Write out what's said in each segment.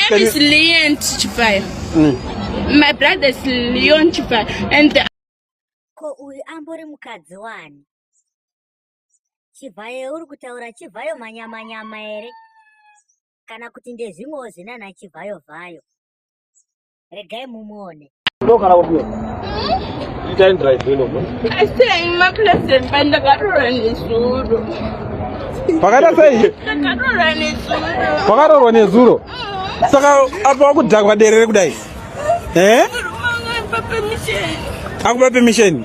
name is Leon Chipaya. Mm. My brother is Leon Chipaya. And the... Ko uyu ambori mukadzi wani? Chivhayo uri kutaura chivhayo manyama nyama here? Kana kuti ndezvimwewo zvinana chivhayo vhayo. Regai mumuone. pakata sei pakatorwa nezuro saka apa wakudhakwa derere kudai eh? akupa pemisheni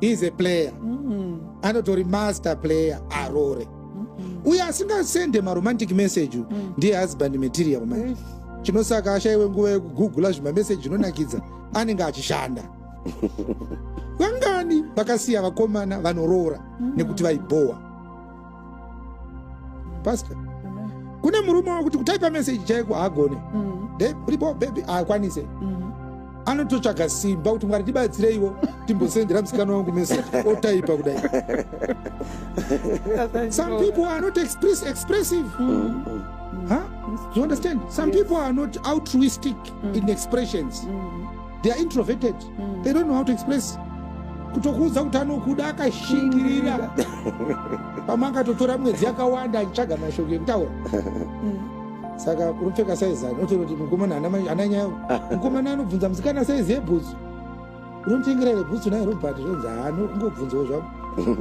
is a player mm. anotori master player arore mm -hmm. uye asingasende maromantic message mm. ndiye husband material manje mm. chinosaka ashaiwe nguva yekugugula zvimameseji zvinonakidza anenge achishanda vangani vakasiya vakomana vanoroora mm. nekuti vaibhowa pastor kune murume wakuti kutaipa meseji chaiko haagone mm. ripo bebi haakwanise mm. anototsvaga simba kuti mwari tibatsireiwo timbosendera musikana wangu meseji otaipa kudai some people are not express, expressive mm. huh? you understand some yes. people are not altruistic mm. in expressions mm. they are introverted mm. they don't know how to express kutokuudza kuti anokuda akashingirira pamwe akatotora mwedzi yakawanda achitsvaga mashoko ekutaura mm. saka unopfeka saizi ani otoona kuti mukomana ana nyaya mukomana anobvunza musikana saizi yebhutsu unotengera here bhutsu naye robert zvonzi haano ungobvunzawo zvavo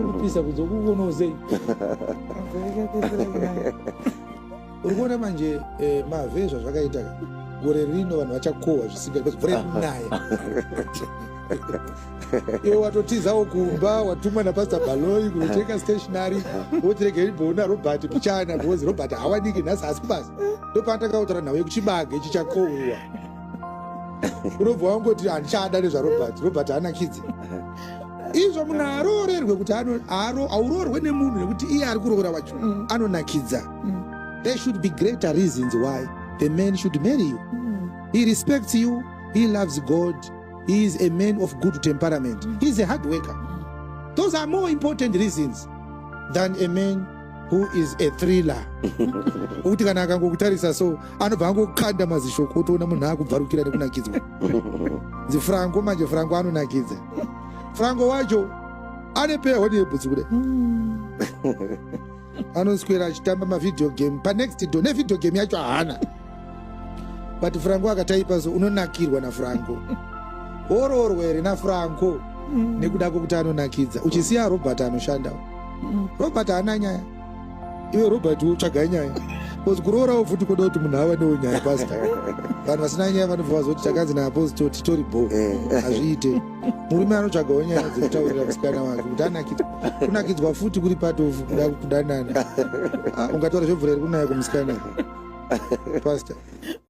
unopisa kunzi okukuonawo sei uri kuona manje eh, mave zvazvakaita gore rino vanhu vachakohwa zvisinga because mvura yekunaya iwe watotizawo kumba watumwa napastor baloi kunotenga stationary wotirega iribhoo narobert pichana because robert hawaniki nhasi asi kubasa ndopaatakautaura nhau yekuchibage chichakohwiwa unobva wangoti handichada nezvarobert robert haana kidzi izvo munhu aroorerwe kuti aurorwe nemunhu nekuti iye ari kuroora wacho mm. anonakidza mm. there should be greater reasons why the man should marry you mm. he respects you he loves god he is a man of good temperament mm. he is a hard worker mm. those are more important reasons than a man who is a thriller ukuti kana akangokutarisa so anobva angokanda mazisho kutoona munhu akubvarukira nekunakidzwa nzi franco manje franco anonakidza franco wacho ane pehonebhutsi kude hmm. anoswera achitamba mavideo game panext do nevideo game yacho haana but franco akataipa so unonakirwa nafranco oroorwa here nafranco mm. nekuda kwekuti anonakidza uchisiya robert anoshanda mm. robert haana nyaya iwe robert utsvagai nyaya bcause kuroorawo futi kuda kuti munhu ava newo nyaya pasta vanhu vasina nyaya vanobva vazoti takanzi naapostle titori bo eh. hazviite murume anotsvagawo nyaya dzekutaurira musikana wake kuti anakidza kunakidzwa futi kuri patofu kuda kudanana ah, ungataura zvebvura iri kunaya kumusikana pasta